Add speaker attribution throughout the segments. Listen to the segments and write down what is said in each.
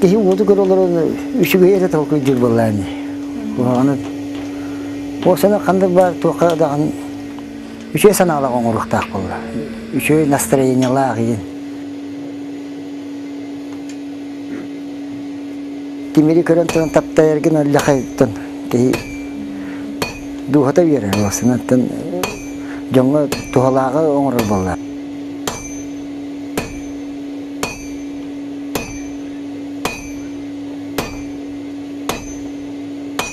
Speaker 1: Киһи уоту көр олорон үчүгэй эрэ толкуй диир буоллаан. Аны ол сана хандык бар туохха даҕан үчүгэй санаалаах оҥоруохтаах буолла. Үчүгэй настроениелаах иһин. Тимири көрөн туран таптайаргын өллөхөйтөн киһи дууһата үөрэр уосунаттан дьоҥҥо туһалааҕы оҥорор буолла.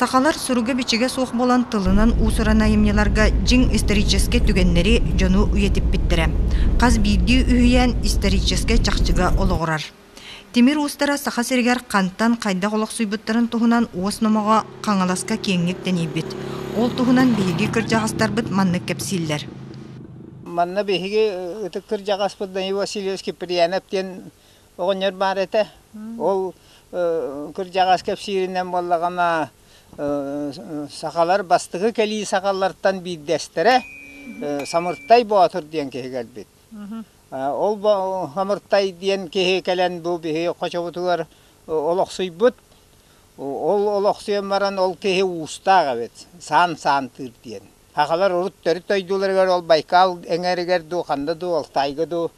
Speaker 2: Сахалар суруга-бичигэ суох буолан тылынан уусуран айымньыларга дьиҥ историческай түгэннэри дьону үйэтиппиттэрэ. Хас биирдии үһүйээн историческай чахчыга олоҕурар. Тимир уустара Саха сиригэр хантан, хайдах олохсуйбуттарын туһунан уос номоҕо Хаҥаласка киэҥник тэнийбит. Ол туһунан биһиги кырдьаҕастарбыт маннык кэпсииллэр. Манна
Speaker 3: биһиги ытык кырдьаҕаспыт Данил Васильевич Киприянов диэн оҕонньор баар этэ. Ол кырдьаҕас кэпсииринэн буоллаҕына, сахалар бастакы кэлии сахалартан биирдэстэрэ Самыртай Боотур диэн киһи кэлбит. Ол Хамыртай диэн киһи кэлэн бу биһи хочобутугар олохсуйбут. Ол олохсуйан баран ол киһи уустаах эбит, саан саантыыр диэн. Сахалар урут төрүт дойдуларыгар ол Байкал эҥэригэр дуу, ханна дуу, Алтай дуу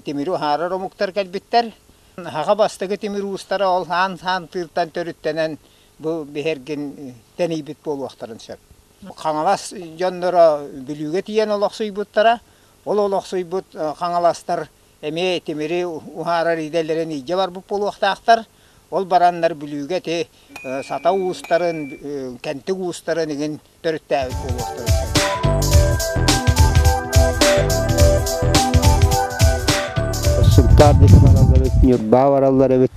Speaker 3: тимири уһаарар омуктар кэлбиттэр. Саха бастакы тимир уустара ол саан саантыыртан төрүттэнэн бу биһэргин тэнийбит буолуохтарын сөп. Хаҥалас дьонноро Бүлүүгэ тиийэн олохсуйбуттара. Ол олохсуйбут хаҥаластар эмиэ тимири уһаарар идэлэрин илдьэ барбыт буолуохтаахтар. Ол бараннар Бүлүүгэ ити сата уустарын, кэнтик уустарын игин төрүттээбит буолуохтарын сөп. Сыртаан ис бараллар эбит, ньурбаа бараллар эбит.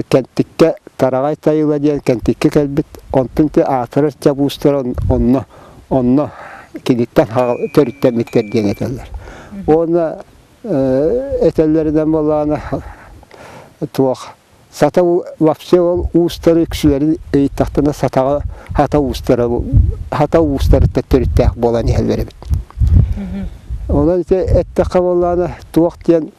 Speaker 3: Кэнтиккэ Тараҕай Тайыла диэн Кэнтиккэ кэлбит, онтун аатырар чабуустара онно онно киниттэн төрүттэммиттэр диэн этэллэр. Уонна этэллэринэн буоллаҕына туох сата вообще ол уустары үксүлэрин ыйыттахтына сатаҕа хата уустара хата уустарыттан төрүттээх буолан иһэллэр эбит. Онон ити эттэххэ буоллаҕына туох диэн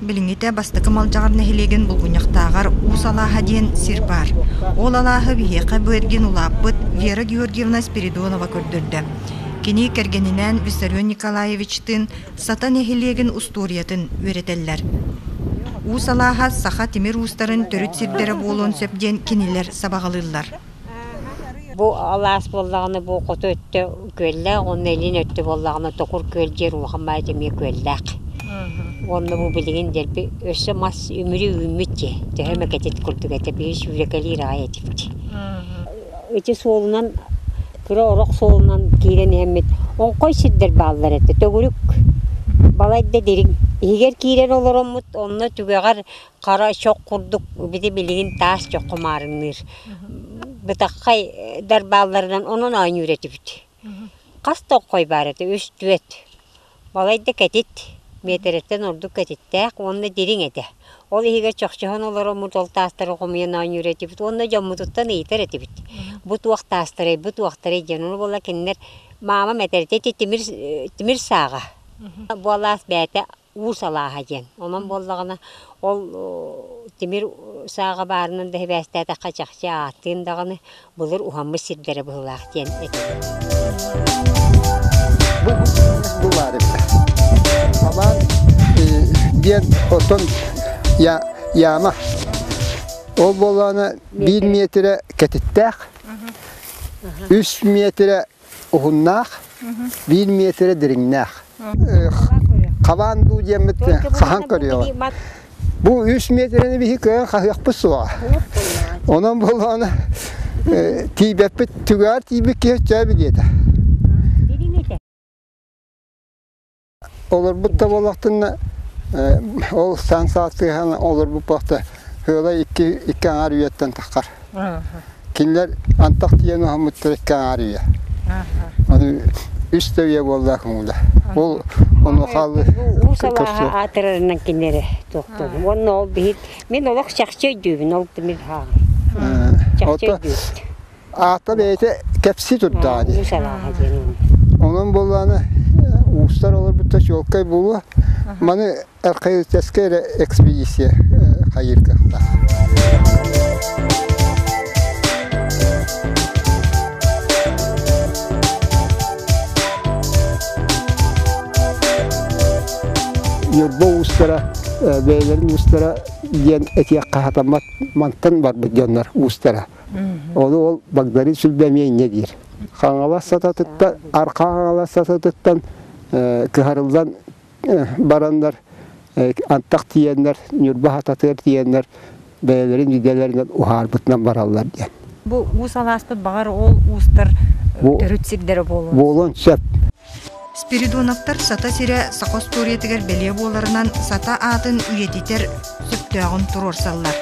Speaker 2: Билиҥҥитэ бастакы Малдьаҕар нэһилиэгин Булгунньахтааҕар Уус алааһа диэн сир баар. Ол алааһы биһиэхэ Бээргин улааппыт Вера Георгиевна Спиридонова көрдөрдө. Кини кэргэнинээн Виссарион Николаевичтыын Сата нэһилиэгин устуоруйатын үөрэтэллэр. Уус алааһа саха тимир уустарын төрүт сирдэрэ буолуон сөп диэн кинилэр сабаҕалыыллар.
Speaker 4: Бу алаас буоллаҕына бу хоту өттө күөллээх уонна илин өттө буоллаҕына токур күөл диэн улахан баайата эмиэ күөллээх. Уонна бу билигин дэлби өссө мас үмүрү үүммүт дии, төһө эмэ кэтит курдук этэ, биһи сүүрэкэлиир аҕай этибит. Ити суолунан, кыра орох суолунан киирэн иһэммит оҥхой сирдэр бааллар этэ, төгүрүк, балайда дириҥ. Иһигэр киирэн олороммут, онно түгэҕэр хара чох курдук бити билигин таас чох хомаарынныыр бытаххай дар баалларынан онон оонньуур этибит хас да хой баар этэ үс түөрт балайда кэтит миэтэрэттэн ордук кэтиттээх уонна дириҥ этэ ол иһигэр чохчоһон олор омут ол таастары хомуйан оонньуур этибит уонна дьоммутуттан ыйытар этибит бу туох таастарай бу туохтарай диэн ол буолла кинилэр маама мэтэритэ ити тимир тимир сааҕа бу алаас бэйэтэ Уус алааһа диэн. Онон буоллаҕына, ол тимир сааҕа баарынан да сибээстээтэххэ чахчы ааттыын даҕаны былыр уһаммыт сирдэрэ быһыылаах диэн этэрим.
Speaker 1: Бу былаар эбитэ. Халаан диэн оттон яма. Ол буоллаҕына биир метрэ кэтиттээх, үс метрэ уһуннаах,
Speaker 3: биир миэтэрэ дириҥнээх. Хабаан дуу диэммит саһан көрүөҕү. Бу үс миэтирэни биһи көрөн хаһыахпыт суоҕа. Онон болоон тиийбэппит түгээр тиийбит киһи өчөөбү диэтэ. Олорбут да буоллахтынна, ол саан саатыһан олорбут буолта, Хыалай икки, икки аҥаар үйэттэн таххар. Кинилэр антах тиийэн оһоммуттар икки аҥаар үйэ. үс да үйэ буолла көҥүлэ. Ол ону хаалы уу салааһа
Speaker 4: аатырарынан кинилэри туохтун. Уонна ол биһит, мин олох чахчы өйдүүбүн, ол мин хааны. Чахчы өйдүүбүн. Аакка
Speaker 3: бэйэтэ кэпсии турдаҕа дии.
Speaker 4: Онон буоллаҕына
Speaker 3: уустар олорбутта чуолкай буолуо. Маны археологическай эрэ экспедиция хайыыр кыахтаах. Ньурба уустара бэйэлэрин уустара диэн этиэх хаһатаммат мантан барбыт дьоннор уустара. Ону ол Багдарыын Сүлбэмиэ инньэ диир. Хаҥалас сататыттан, Архаа Хаҥалас сататыттан кыһарыллан бараннар, антах тиийэннэр, ньурба хататыгар тиийэннэр, бэйэлэрин идэлэринэн уһаарбытынан бараллар диэн. Бу уус алааспыт,
Speaker 2: баҕар, ол уустар төрүт сирдэрэ буолуон? Буолуон сөп.
Speaker 3: Спиридоновтар
Speaker 2: Сата сирэ саха остуоруйатыгар бэлиэ буоларынан сата аатын үйэтитэр сөптөөҕүн туруорсаллар.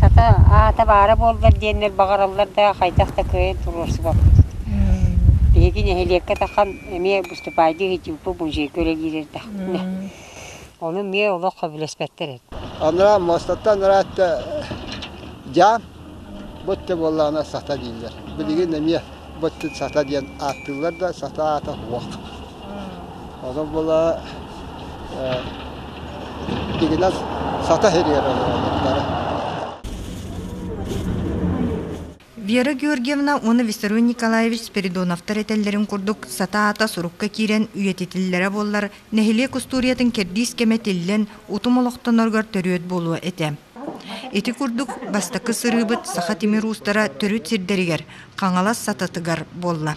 Speaker 4: Сата аата баара буоллар диэннэр баҕараллар да хайдах да кыайан туруорсубаппыт. Биһиги нэһилиэккэ тахан эмиэ выступайдыы иһитиппы музейга үлэлиирэрдэ. Ону эмиэ олох сөбүлэспэттэр эбит. Анараа
Speaker 3: муостаттан анараа өттө дьаам, бу өттө буоллаҕына сата дииллэр. Билигин эмиэ бу өттүн сата диэн ааттыыллар да, сата аата уох. Ону була дигинэн сата хириэр олороллор
Speaker 2: Вера Георгиевна уонна Виссарион Николаевич Спиридоновтар этэллэрин курдук, сата-аата сурукка киирэн үйэтитиллэрэ буоллар, нэһилиэк устуоруйатын кэрдиис кэмэ тиллэн, утум олохтоноругар төрүөт буолуо этэ. Ити курдук, бастакы сырыыбыт саха тимир уустара төрүт сирдэригэр, Хаҥалас сататыгар буолла.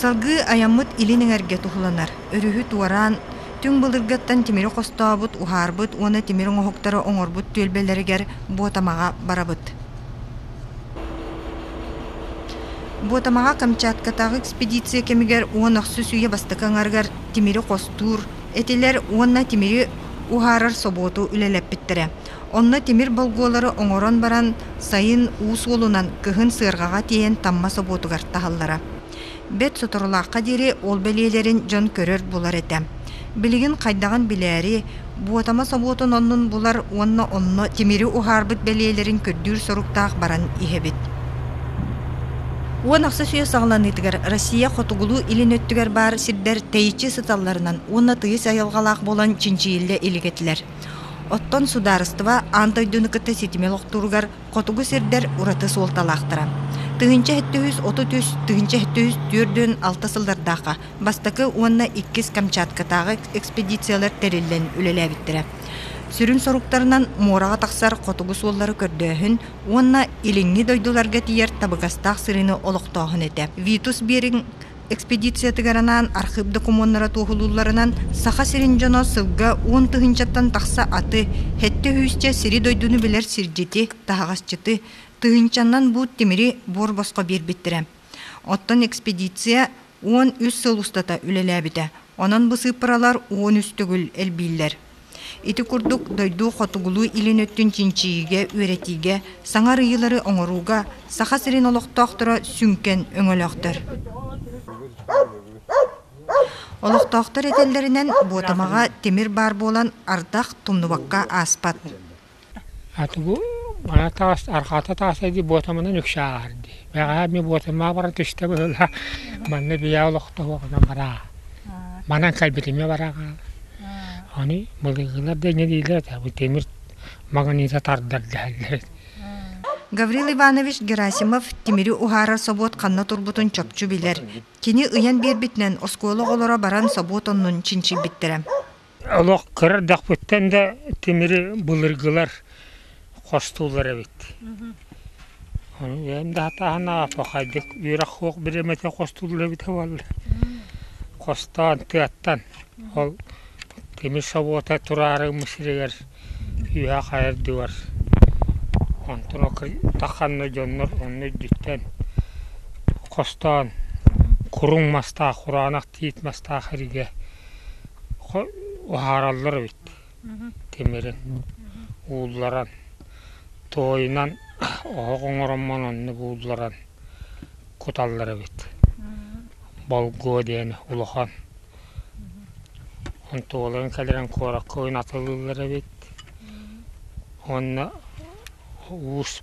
Speaker 2: Салгыы айаммыт илин эҥэргэ туһуланар. Өрүһү туораан, түҥ былыргаттан тимири хостообут, уһаарбыт уонна тимир оҥоһуктары оҥорбут түөлбэлэригэр Буотамаҕа барабыт. Буотамаҕа Камчаткатааҕы экспедиция кэмигэр уон охсус үйэ бастакы аҥарыгар тимири хостуур этилэр уонна тимири уһаарар собуоту үлэлэппиттэрэ. Онно тимир болгуолары оҥорон баран, сайын уу суолунан кыһын сыарҕаҕа тиэйэн тамма собуотугар таһаллара. Бэрт соторулаахха диэри ол бэлиэлэрин дьон көрөр-булар этэ. Билигин хайдаҕын билээри, Буотама собуотун оннун булар уонна онно тимири уһаарбыт бэлиэлэрин көрдүүр соруктаах баран иһэбит. Уон ахсыс үйэ саҕаланыытыгар Россия хотугулуу-илин өттүгэр баар сирдэр тэйиччи сыталларынан уонна тыйыс айылҕалаах буолан чинчийиллэ илик этилэр. Оттон судаарыстыба аан дойдуну кытта ситими олохтууругар хотугу сирдэр ураты суолталаахтара. Тыһыынча сэттис отут үс тыһыынча сэттис түөртүн алта сыллардаахха бастакы уонна иккис Камчаткатааҕы экспедициялар тэриллэн үлэлээбиттэрэ. Сүрүн соруктарынан муораҕа тахсар хотугу суоллары көрдөөһүн уонна илиҥҥи дойдуларга тиийэр табыгастаах сырыыны олохтооһун этэ. Витус Беринг Экспедициятыгар анаан архыып докумуоннара туоһулуулларынан, Саха сирин дьоно сылга уон тыһыынчаттан тахса аты, сэттэ үһүсчэ сири-дойдуну билэр сирдьити, таһаҕасчыты, тыһыынчаннан буут тимири буор босхо биэрбиттэрэ. Оттон экспедиция уон үс сыл устата үлэлээбитэ, онон бысыыппаралар уон үс төгүл элбииллэр. Ити курдук дойду-хотугулуу илин өттүн чинчийиигэ, үөрэтиигэ, саҥа арыйыылары оҥорууга Саха сирин олохтоохторо сүҥкэн өҥөлөөхтөр. Олохтоохтор этэллэринэн, Буотамаҕа тимир баар буолан, ардах тумнубакка ааспат.
Speaker 5: Тугу баҕа таас, арҕаата тааса дии буотамынан үксэ ааһар дии. Бэҕэһээ эмиэ буотаммар баран түстэ быһыылаах, манна бийаа олохтоһуох гынан бараа. Манан кэлбитимэ бараҕа. Аны былыгылар да инньэ дииллэр этэ, бу тимир магнита тардар дэһэллэр.
Speaker 2: Гаврил Иванович Герасимов тимири уһаарар собуот ханна турбутун чопчу билэр. Кини ыйан биэрбитинэн оскуола оҕолоро баран собуот оннун чинчийбиттэрэ. Олох
Speaker 5: кыра эрдэхпиттэн да тимири былыргылар хостуулар эбит. Ону бэйэм да хатааһыннаах апахайдык үөрэх-суох бириэмэтэ хостуулар эбитэ буоллар хостоон тыаттан ол тимир собуота тураары сиригэр үөһэ хайар дьубар онтон ханна дьоннор онно үрдүттэн хостоон куруҥ мастаах кураанах тиит мастаах эргэ уһаараллар эбит тимирин уулларан туойунан оһох оҥороммун онно буулларан куталлар эбит болгуо диэн улахан онтуолан кэлэрин куоракка ойун атылыыллар эбит уонна уус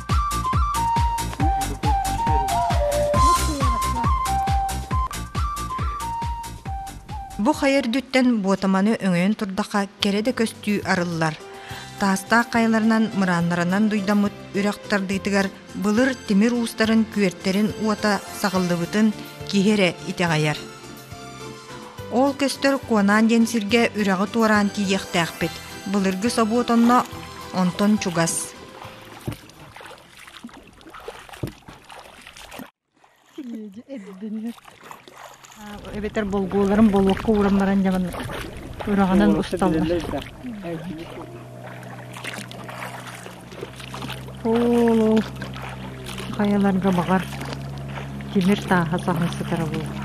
Speaker 2: Бу хайа үрдүттэн буотаманы өҥөйөн турдахха кэрэ да көстүү арыллар. Таастаах хайаларынан мырааннарынан дуйдаммыт үрэх тардыытыгар былыр тимир уустарын күөртэрин уота саҕыллыбытын киһи эрэ итэҕэйэр. Ол көстөр Куонаан диэн сиргэ үрэҕи туораан тиийиэхтээхпит. Былыргы собуот онно, онтон чугас.
Speaker 6: Леди эрдинэр эбэтэр болгууларын болуокка ууран баран дьаҕан үрэҕинэн усталлар. Ол хайаларга баҕар тимир тааһа саһан сытара буолар.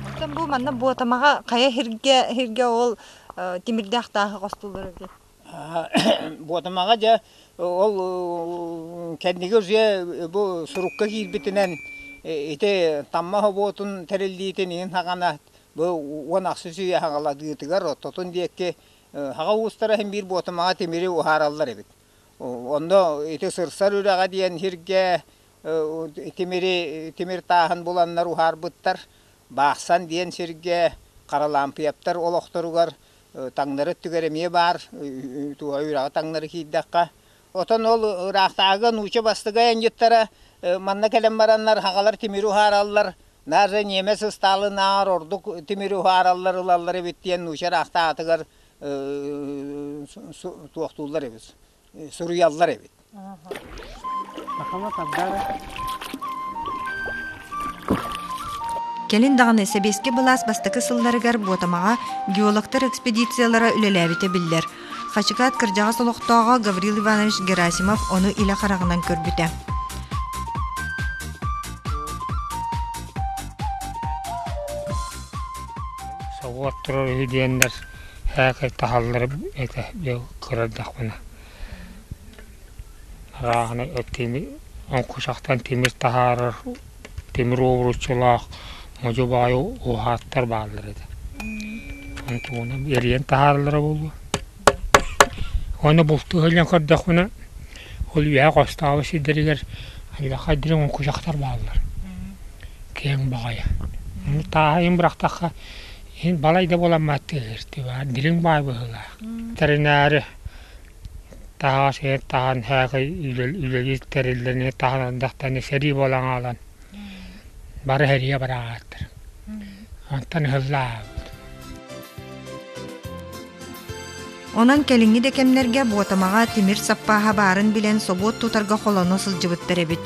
Speaker 2: Оттон бу манна Буотамаҕа хайа сиргэ сиргэ ол тимирдээх тааһы хостууллар эбит.
Speaker 3: Буотумаҕа дьэ ол кэнники уже бу сурукка киирбитинэн ити Таммах обуотун тэриллиитин иһин саҕана бу уон ахсыс үйэ аҕаладыытыгар оттотун диэки саха уустара иһин биир буотумаҕа тимири уһаараллар эбит. Онно ити сырсар үрэҕэ диэн сиргэ тимири тимир тааһын буланнар уһаарбыттар. Баахсан диэн сиргэ Харалаампыйаптар олохторугар таҥнары өттүгэр эмиэ баар туһа үрэҕи таҥнары киирдэххэ отон ол ыраахтааҕыга нууча бастыгай анньыттара манна кэлэн бараннар хаҕалар тимири уһаараллар наар эрэ ньиэмэс ыстаалынаҕар ордук тимири уһаараллар ылаллар эбит диэн нууча ыраахтаатыгар туохтууллар эбит суруйаллар эбит.
Speaker 2: Кэлин даҕаны сэбиэскэй былаас бастакы сылларыгар Буотамаҕа геологтар экспедициялара үлэлээбитэ биллэр. Хачыкаат кырдьаҕас олохтооҕо Гаврил Иванович Герасимов ону илэ хараҕынан көрбүтэ.
Speaker 5: Собуот турар үһү диэннэр Һээкэй таһалларым этэ дьэ кыра эрдэхпинэ арааһынай тимир оҥкучахтан тимир таһаарар тимир уобуруччулаах модьу баайы ууһааттар бааллар этэ онтугунан эрийэн таһаараллара буолуо уонна бултуу сылдьан көрдөхпүнэ ол үөһэ хостооҕу сирдэригэр аллахха дириҥ оҥкучахтар бааллар киэҥ баҕайы ону тааһайан бырахтахха Син балай да буолан маттыыһыстыбаан дириҥ баай быһыылаах. Тэринээри таһаас иһэр таһан һээхый үлэлиир тэриллэни таһан ардахтаны сэрии буолан хаалан бары һэрийэ быраҕааттар. Онтон ыһыллаабыт.
Speaker 2: Онон кэлиҥҥи да кэмнэргэ Буотамаҕа тимир саппааһа баарын билэн собуот тутарга холоно сылдьыбыттар эбит.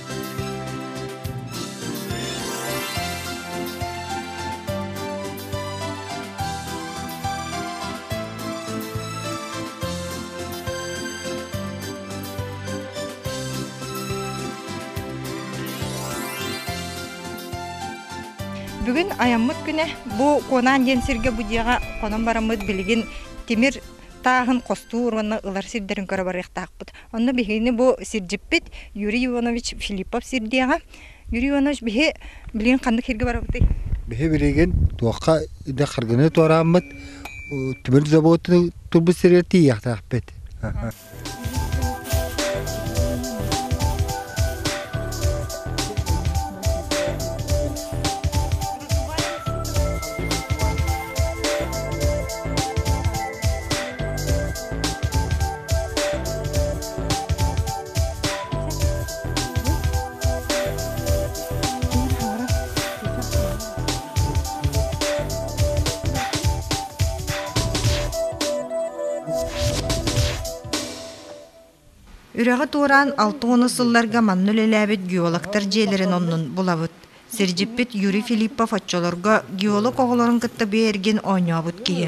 Speaker 2: Бүгүн аяммыт күнэ бу Куонаан диэн сиргэ бу дьиэҕэ хонон бараммыт билигин тимир тааһын хостуур уонна ылар сирдэрин көрө барыахтаахпыт. Онно биһигини бу сирдьиппит Юрий Иванович Филиппов сирдиэҕэ. Юрий Иванович, биһи билигин ханнык сиргэ барабытый? Биһи билигин
Speaker 7: туохха идэ харгыны туорааммыт тимир заводу турбут сиригэр тиийиэхтээхпит.
Speaker 2: Үрэҕи туораан алта уона сылларга манна үлэлээбит геологтар дьиэлэрин оннун булабыт. Сирдьиппит Юрий Филиппов оччолорго геолог оҕолорун кытта биэргин оонньообут киһи.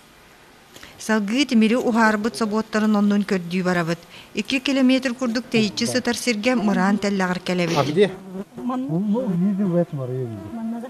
Speaker 2: Салгыы тимири уһаарбыт собуоттарын оннун көрдүү барабыт. Икки километр курдук тэйиччи сытар сиргэ мыраан тэллэҕэр кэлэбит. А где?
Speaker 7: Ну, ну, видел в этом, я видел. Манна да?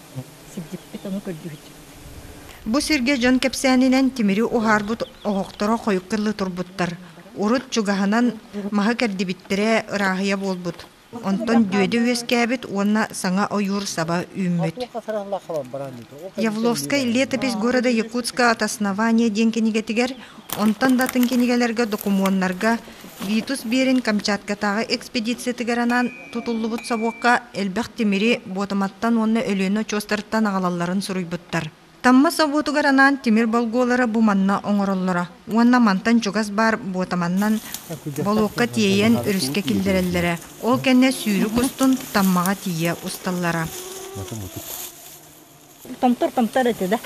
Speaker 6: Сирдьиппит ону көрдүүһүччүбүт. Бу сиргэ
Speaker 2: дьон кэпсээнинэн тимири уһаарбыт оһохторо хойукка дылы турбуттар. Урут чугаһынан маһы кэрдибиттэрэ ырааһыйа буолбут. Онтон дүөдэ үөскээбит уонна саҥа ойуур саба үүммүт. Явловскай летопись города Якутское от основания диэн кинигэтигэр, онтон да атын кинигэлэргэ докумуоннарга Витус биэрин Камчаткатааҕы экспедициятыгар анаан тутуллубут собуокка элбэх тимири, буотаматтан уонна Өлүөнэ очуостарыттан аҕалалларын суруйбуттар. Тамма собуотугар анаан тимир болголоро бу манна оҥороллоро уонна мантан чугас баар буотаманнан болуокка тиэйэн өрүскэ киллэрэллэрэ. Ол кэннэ сүүрүк устун Таммаҕа тиийэ усталлара.
Speaker 6: Томтор-томтор этэ да.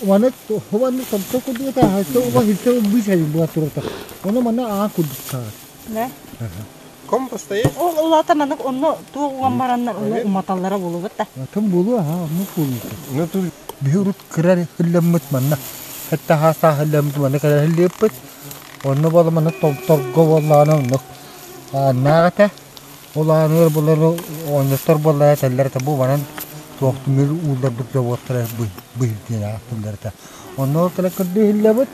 Speaker 6: Аны
Speaker 7: хованны томто курдуга алты уга үлтэ быыс эбин була турата. Ону манна аа курдук саат. Да. Ком
Speaker 3: постоять? Ол улата манык
Speaker 6: онно туох уган бараннар оны уматаллара болубут да. Атын болу аха онну
Speaker 7: болута. Ну тур биһи урут кырар хылламмыт манна. Хатта хааса хылламмыт манна кырар хыллыппыт. Онну бола манна томторго боллаана онну. Аннаата. Ол ааныгар былыргы оонньоттор буоллар этэллэр этэ бу убанан туох түмүгү уулларбыт заводтара быһыы диэн ааттыыллар этэ. Онно ол тылы көрдөһүллэбит,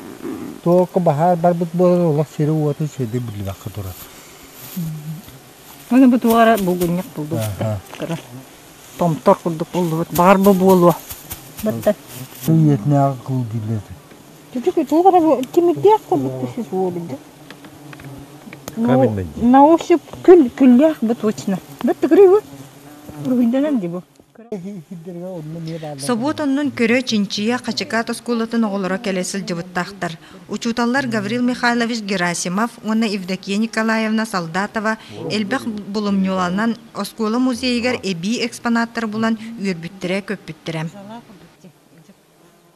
Speaker 7: туокка баһаар барбыт буолар олох сири-уотун сири биллибэккэ турар. Аны бу туора булгунньук булбуппут. Көрө.
Speaker 6: Томтор курдук буллубут. Баҕар бу буолуо. Баттан. Үйэтинээҕи
Speaker 7: кыл дииллэр этэ. Чуть-чуть туох
Speaker 6: эрэ кимирдиэх курдук сис буолбут. На ощупь күл күллээх бу точно. Бу тыкыры бу. Руһуйданан ди бу. Собуот
Speaker 2: оннун көрө Чинчия Хачыкаат оскуолатын оҕолоро кэлэ сылдьыбыттаахтар. Учууталлар Гаврил Михайлович Герасимов уонна Евдокия Николаевна Солдатова элбэх булумньуланан оскуола музейыгар эбии экспонаттары булан үөрбүттэрэ-көппүттэрэ.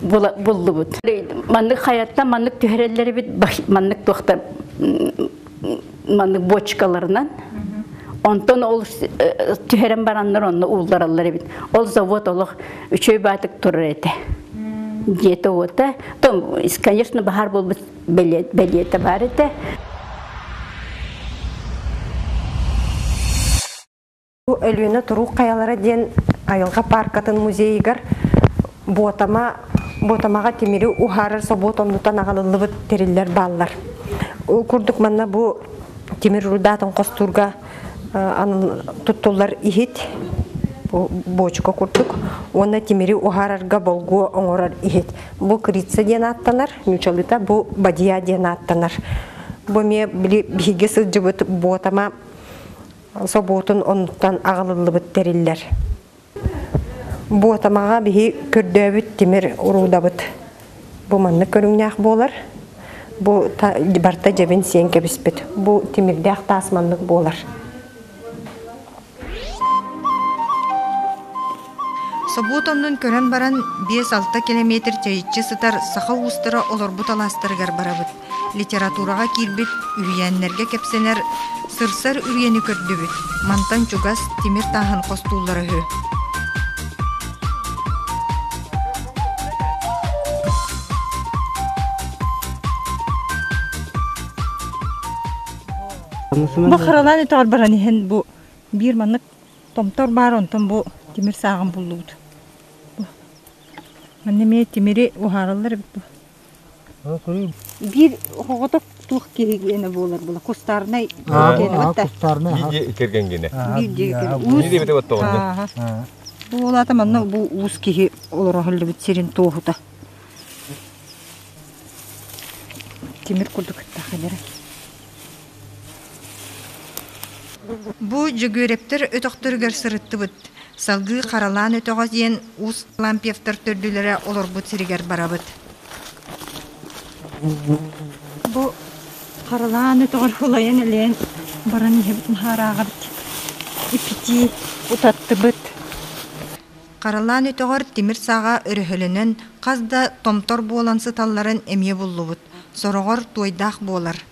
Speaker 8: буллубут. Маннык хайаттан маннык түһэрэллэрибит маннык туохта маннык бочкаларынан онтон ол э, түһэрэн бараннар онно ууллараллар эбит ол завод олох үчөй баатык турар этэ диэте уота то конечно баһар буолбут бэлиэтэ бар этэ
Speaker 9: Бу Өлүөнэ туруук хайалара диэн айылҕа пааркатын музейыгар Буотама Буотамаҕа тимири уһаарар собуот оннуттан аҕалыллыбыт тэриллэр бааллар. Ол курдук манна бу тимир рудаатын хостуурга туттуллар иһит буочука курдук уонна тимири уһаарарга болгуо оҥорор иһит. Бу крица диэн ааттанар, ньучалыта бу бадья диэн ааттанар. Бу эмиэ биһиги сылдьыбыт Буотама собуотун оннуттан аҕалыллыбыт тэриллэр. Буотамаҕа биһи көрдөөбүт тимир уруудабыт бу маннык көрүҥнээх буолар. Бу барта дьэбин сиэн кэбиспит. Бу тимирдээх таас маннык буолар.
Speaker 2: Собуот оннун көрөн баран, биэс-алта километр чэйиччи сытар саха уустара олорбут алаастарыгар барабыт. Литератураҕа киирбит үһүйээннэргэ кэпсэнэр, сырсар үрүйэни көрдүбүт, мантан чугас тимир тааһын хостууллара үһү.
Speaker 6: Бу харанан өтөҕөр баран иһэн бу биир маннык томтор баар онтон бу тимир сааҕын буллубут. Манна эмиэ тимири уһаараллар эбит бу. Биир оҕотоп туох киһи ene буолар була кустарнай
Speaker 7: кэргэнгине
Speaker 10: Буолата
Speaker 6: манна бу уус киһи олороһуллубут сирин туоһута Тимир курдук ыттах
Speaker 2: Бу Дьөгүөрэптэр өтөхтөрүгэр сырыттыбыт. Салгыы Харалаан өтөҕө диэн уус Лампьевтар төрдүлэрэ олорбут сиригэр барабыт.
Speaker 6: Бу Харалаан өтөҕөр ылайан-элэйэн баран иһэбит наһаарааҕабыт. Ипитии утаттыбыт.
Speaker 2: Харалаан өтөҕөр тимир сааҕа өрөһөлөнөн, хас да томтор буолан сыталларын эмиэ буллубут. Сороҕор туойдаах буолар.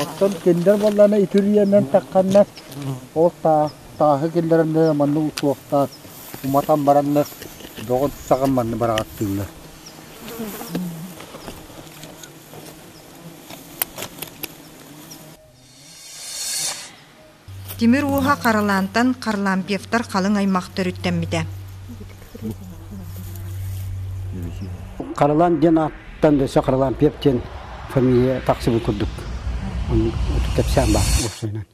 Speaker 7: Оттон кинилэр буоллаана итирийэнэн тахханнар ол таа тааһы киллэрэннэр маннык утуохтаах уматан бараннар доҕор саҕан манны быраҕаттыыллар
Speaker 2: Тимир ууһа Харалаантан Харлампьевтар халыҥ аймах төрүттэммитэ.
Speaker 1: Харалаан диэн ааттан өссө Харлампьев диэн фамилия тахсыбыт курдук. Оннук отут кэпсээн баар уопсайынан.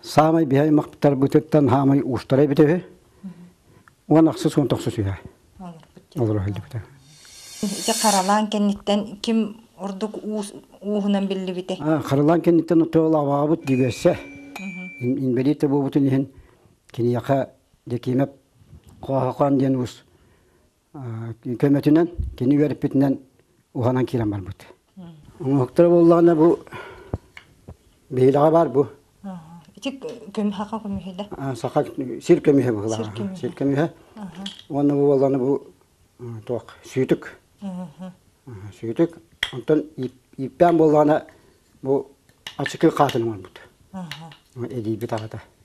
Speaker 1: Саамай биһи аймахтарбытыттан хаамай уустара эбитэ үһү. Уон ахсыс уон тохсус үһү. олоро сылдьыбыта ити
Speaker 2: харалаан кэнниттэн ким ордук уус ууһунан биллибитий харалаан кэнниттэн
Speaker 1: тоолаабаабыт дигессе инбэлиит буолбутун иһин киниэхэ декимеп хоохоон диэн уус көмөтүнэн кини үөрпүтүнэн уһанан киирэн барбыт Уҥуохтара буоллаҕына бу биһилэҕэ баар бу. Ити
Speaker 2: көмүһэҕэ көмүһэ да? Саха сир
Speaker 1: көмүһэ быһылаҕа. Сир көмүһэ. Уонна бу буоллаҕына бу туох сүүтүк. Сүүтүк. Онтон ииппээн буоллаҕына бу ачыкы хаатын оҥорбут. Эдийбит аҕата.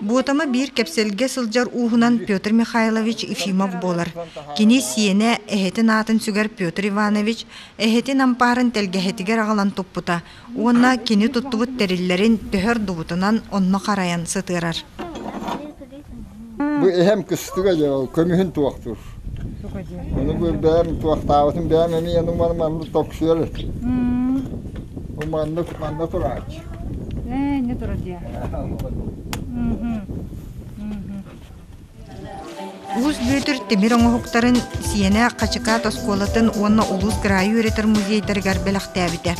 Speaker 2: Буотама биир кэпсэлгэ сылдьар ууһунан Петр Михайлович Ефимов буолар. Кини сиэнэ, эһэтин аатын сүгэр Петр Иванович, эһэтин ампаарын тэлгэһэтигэр аҕалан туппута уонна кини туттубут тэриллэрин төһө ордубутунан онно харайан сытыарар.
Speaker 11: Бу эһэм кыстыга дьэ ол көмүһүн туохтуур. Ону бу бэйэм туохтаабытым бэйэм эмиэ ону маны маннык токсуйар эти. Бу маннык манна турач. Ээ, не
Speaker 6: тура дия.
Speaker 2: Улус Бүөтүр тимир оҥоһуктарын Сиэнэ Хачыкаат оскуолатын уонна улуус кыраайы үөрэтэр музейдарыгар бэлэхтээбитэ.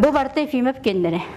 Speaker 8: Бу барыта Ефимов кеннере.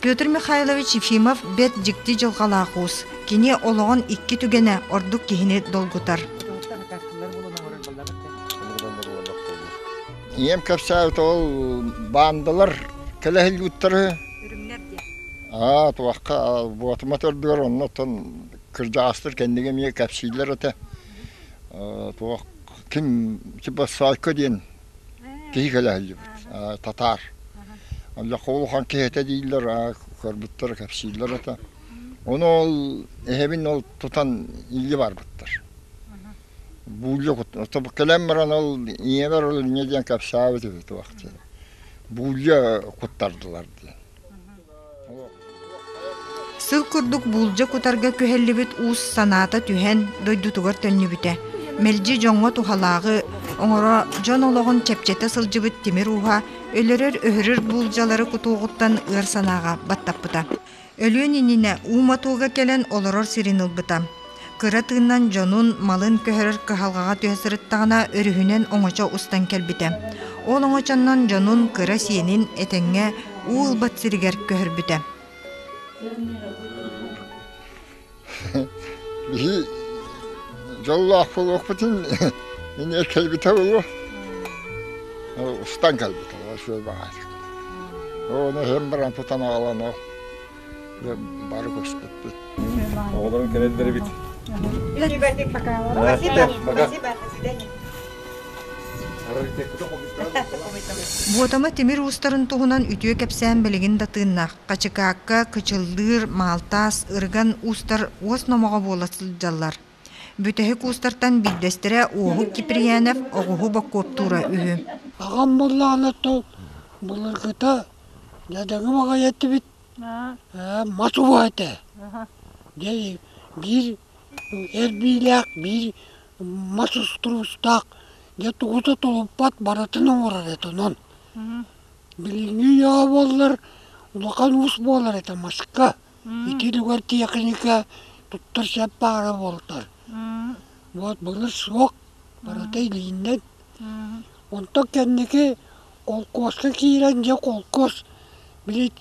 Speaker 8: Петр
Speaker 2: Михайлович Ефимов бэрт дьикти дьылҕалаах уус. Кини олоҕун икки түгэнэ ордук киһини долгутар.
Speaker 11: Ийэм кэпсээбит ол баандалар кэлэһиллиуттары аа туохха буотума төрдүгэр оннуттан кырдьаҕастар кэнниги эмиэ кэпсииллэр этэ туох ким типа сайка диэн Киһи кэлэһиллибит, татаар. Оллоххо улахан киһитэ дииллэр, көрбүттэр, кэпсииллэр этэ. Ону ол эһэбин ол тутан илии барбыттар. Буулдьа кут кэлэн баран ол ийэбэр ол инньэ диэн кэпсээбит үһү туох диэн. Буулдьа куттардылар диэн.
Speaker 2: Сыл курдук буулдьа кутарга күһэллибит уус санаата түһэн, дойдутугар төннүбүтэ. Мэлдьи дьоҥҥо туһалааҕы оҥоро дьон олоҕун чэпчэтэ сылдьыбыт тимир ууһа өлөрөр-өһөрөр буулдьалары кутуоҕуттан ыар санааҕа баттаппыта. Өлүөн иннинэ уу мотуога кэлэн олорор сирин ылбыта. Кыра тыыннан дьонун малын көһөрөр кыһалҕаҕа түһэ сырыттаҕына, өрүһүнэн оҥочо устан кэлбитэ. Ол оҥочоннон дьонун кыра сиэнин этэҥҥэ уу ылбат сиригэр көһөрбүтэ.
Speaker 11: Биһи дьоллоох буолуохпутун эмиэ кэлбитэ буолуо. Устан кэлбитэ, сүөл баҕаайы. Ону иһин баран тутан аҕалан ол бары көспүппүт. Оҕолорун
Speaker 10: кэлэллэрибит.
Speaker 2: Буотама тимир уустарын туһунан үтүө кэпсээн билигин да тыыннаах. Хачыкаакка, Кычыллыыр, Маалтаас, Ырган уустар уос номоҕо буола сылдьаллар. Бүтэһик уустартан биирдэстэрэ Уоһук Киприянов оҕуһу боккуоптуура үһү. Аҕам
Speaker 12: Баллаанаттан былыргыта дэдэҥим аҕай эттибит ээ мас убаа этэ дьэ биир эрбиилээх биир мас устуруустаах дьэ тугута тулуппат барытын оҥорор этэ онон билиҥҥи үйэҕэ буоллар улахан уус буолар этэ маска Итилигэр тиэхиньикэ туттар сөп баара буолтар вот былыр суох барыта илииннэн онтон кэнники холкуоска киирэн дьэ холкуос били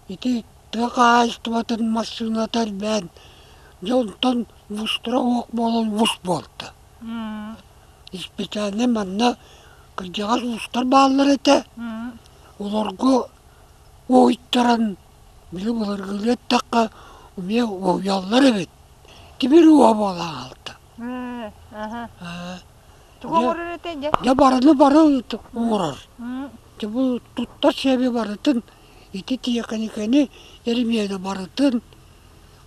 Speaker 12: ити тыа хаһаайыстыбатын массыыната элбээн дьэ онтон мустура суох буолан мус буолта испециальнай манна кырдьаҕас уустар бааллар этэ олорго Уойтаран били былыргыны эттэххэ эмиэ уоуйаллар эбит тимир уо буола аҕалта
Speaker 6: дьэ барыны бары
Speaker 12: уурар дьэ бу туттар сиэби барытын ити тиэхиньикэни эримиэнэ барытын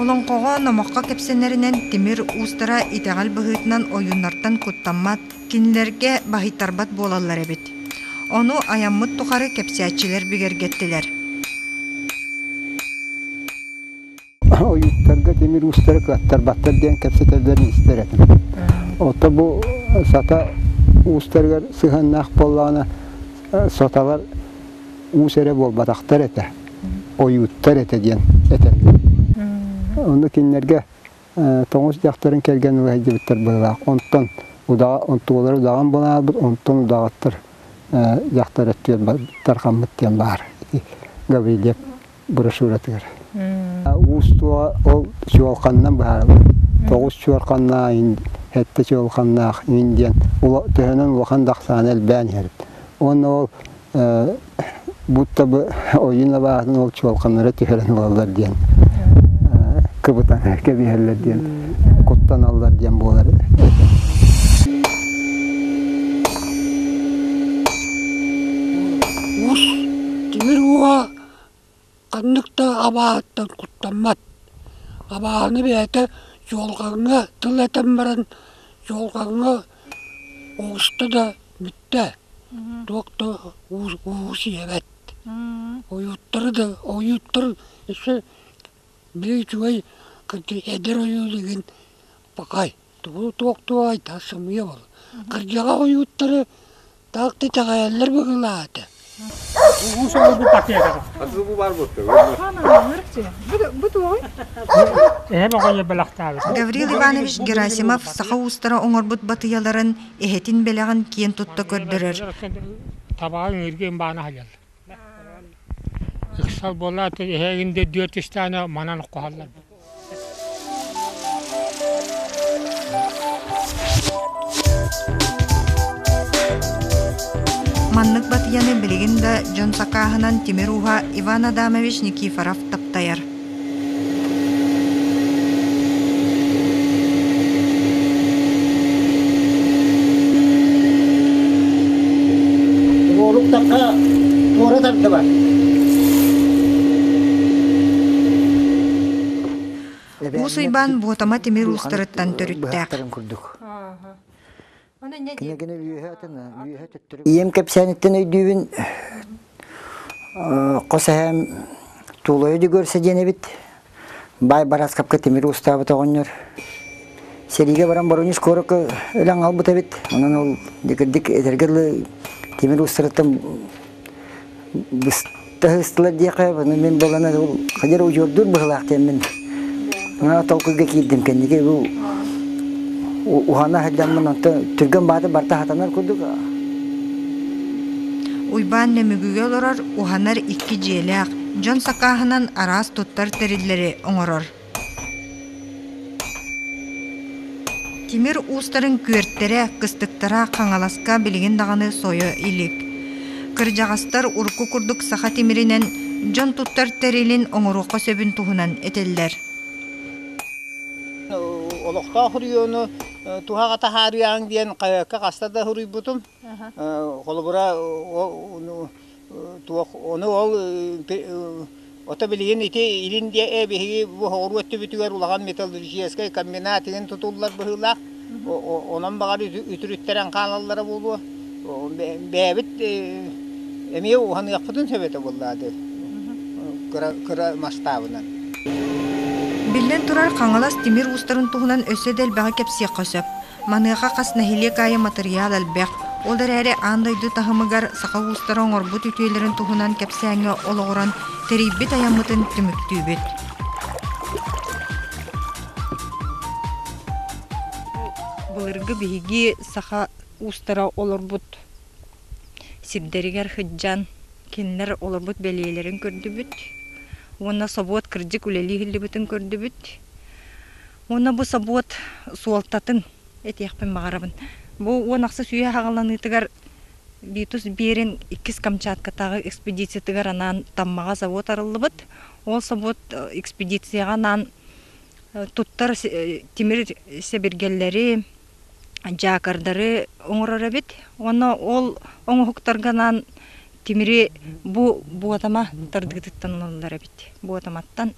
Speaker 2: Олоҥхоҕо, номоххо кэпсэнэринэн, тимир уустара итэҕэл быһыытынан ойууннартан куттаммат, кинилэргэ баһыйтарбат буолаллар эбит. Ону айаммыт тухары кэпсээччилэр бигэргэттилэр.
Speaker 1: Ойууттарга тимир уустары кыаттарбаттар диэн кэпсэтэллэрин истэр этим. Оттон бу сата уустарыгар сыһыаннаах буоллаҕына, соталар уус эрэ буолбатахтар этэ,
Speaker 13: ойууттар этэ диэн этэллэр. Ону кинилэргэ тоҥус дьахтарын кэргэн улаһайдыбыттар быһылаах. Онтон удаҕа, онтулар удаҕан буолаабыт, онтон удаҕаттар дьахтар өттүгэр тархаммыт диэн баар ити Гаврильев брошюратыгар. Уустуга ол чуолканнан быһаарабын. Тоҕус чуолканнаах, сэттэ чуолканнаах диэн төһөнөн улахан дахсааны элбээн иһэрбит. Уонна ол будто бы ойуун абааһытын ол чуолканнара түһэрэн ылаллар диэн кыбытан кэбиһэллэр диэн куттаналлар диэн буолар этэ. Уус
Speaker 12: тимир ууга Ханнык да абааһыттан куттаммат. Абааһыны бэйэтэ дьуолҕаҥҥа тыл этэн баран, дьуолҕаҥҥа оҕуста да бүттэ, туох да уус ийэбэт. Ойуоттары да, ойууттар өссө били үчүгэй эдэр ойуу дэгин пакай. Тугу туохтуу айдаа сымыйа ол кырдьаҕас ойууттары таах да итэҕэйэллэр быһыылаата. Уу
Speaker 5: соло бу пакетаҕа. Хатыы бу баар буотта.
Speaker 2: Эһэм оҕойо бэлэхтээбит. Гаврил Иванович Герасимов саха уустара оҥорбут батыйаларын, эһэтин бэлэҕин киэн тутта көрдөрөр. Табаҕа
Speaker 5: ыҥыырга баана сылдьар. Ыксал буолаат, эһигин да дүөт истээнэ манан оххоһоллор.
Speaker 2: Маннык батыйаны билигин да дьон сакааһынан тимир ууһа Иван Адамович Никифоров таптайар.
Speaker 1: уолуктахха туора тардыбат
Speaker 2: Уус Уйбаан Буотама тимир уустарыттан төрүттээх.
Speaker 1: Ийэм кэпсээниттэн өйдүүбүн хос эһээм Тулайы Дегорса диэн эбит баай барааскапка тимир уустаабыт оҕонньор сэриигэ баран Боронеж куоракка өлөн аҕалбыт эбит онон ол дэгирдик этэргэ тимир уустарыттан Тыһыстылар диэхэ, аны мин балана хадьар удьуордуур быһылаах диэммин. Maa толкуйга киирдим кэнники бу ухана хадьаммын онтон түргэн бааты барта хатанар курдук
Speaker 2: Уйбаан Нөмүгүгэ олорор уһанар икки дьиэлээх, дьон сакааһынан араас туттар тэриллэри оҥорор. Тимир уустарын күөртэрэ, кыстыктара Хаҥаласка билигин даҕаны сойо илик. Кырдьаҕастар урукку курдук саха тимиринэн дьон туттар тэрилин оҥоруохха сөбүн туһунан этэллэр.
Speaker 3: Олохтоох үрүйэни туһаҕа таһаарыаҕыҥ диэн хаһыакка хаста да суруйбутум. Холобура туох ону ол ото билигин ити илин диэ ээ биһиги бу соҕуруу өттүбүтүгэр улахан металлургическай комбинат иһин тутуллар быһыылаах онон баҕар үтүрүттэрэн хаалаллара буолуо бэйэбит эмиэ уһаныахпытын сөп этэ буоллаа ды кыра масштабынан
Speaker 2: Биллэн турар, Хаҥалас тимир уустарын туһунан өссө да элбэҕи кэпсиэххэ сөп. Маныаха хас нэһилиэк аайы матырыйаал элбэх. Ол эрээри аан дойду таһымыгар саха уустара оҥорбут үтүөлэрин туһунан кэпсээҥҥэ олоҕуран тэрийбит айаммытын түмүктүүбүт. Былыргы биһиги саха уустара олорбут сирдэригэр сылдьан кинилэр олорбут бэлиэлэрин көрдүбүт уонна собуот кырдьык үлэлии иһиллибитин көрдүбүт. Уонна бу собуот суолтатын этиэхпин баҕарабын. Бу уон ахсыс үйэ аҕаланыытыгар Битус Берин иккис Камчаткатааҕы экспедициятыгар анаан Таммаҕа завод арыллыбыт. Ол собуот экспедицияҕа анаан туттар тимир сэбиргэллэри, дьаакардары оҥорор эбит. Уонна ол оҥоһуктарга анаан тимири бу буотама тардыытыттан ылаллар эбит. Буотаматтан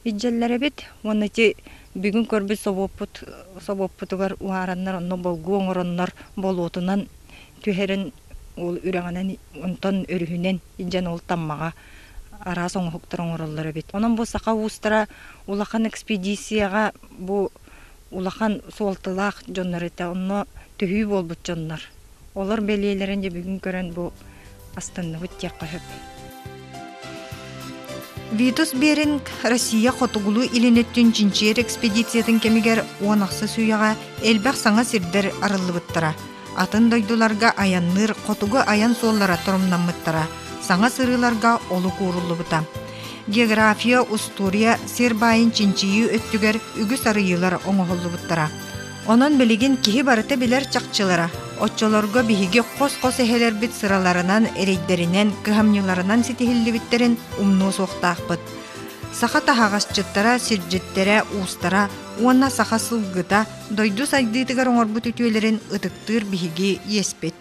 Speaker 2: Илдьэллэрэбит уонна ити бүгүн көрбүт собуоппут собуоппутугар уһаараннар онно болгу оҥороннор болуотунан түһэрэн ол үрэҕинэн онтон өрүһүнэн илдьэн ол таммаҕа араас оҥоһуктары оҥороллор эбит. Онон бу саха уустара улахан экспедицияҕа бу улахан суолталаах дьоннор этэ онно төһүү буолбут дьоннор. Олор бэлиэлэрин дьэ бүгүн көрөн бу астынныбыт диэххэ сөп. Витус Беринг Россия хотугулуу илинеттин чинчиер экспедициятын кэмигер уон ахса сүйэҕэ элбэх саҥа сирдер арыллыбыттара. Атын дойдуларга аянныыр хотугу айан суоллара тұрумнаммыттара, саңа сырыларга олук ууруллубута. География, устурия сир байын чинчийүү өттүгэр үгүс арыйылар оңоһуллубуттара. Онон билигин киһи барыта билэр чахчылара, оччолорго биһиги хос-хос эһэлэрбит сыраларынан, эрэйдэринэн, кыһамньыларынан ситиһиллибиттэрин умнуо суохтаахпыт. Саха таһаҕасчыттара, сирдьиттэрэ, уустара уонна саха сылгыта дойду сайдыытыгар оҥорбут үтүөлэрин ытыктыыр биһиги иэспит.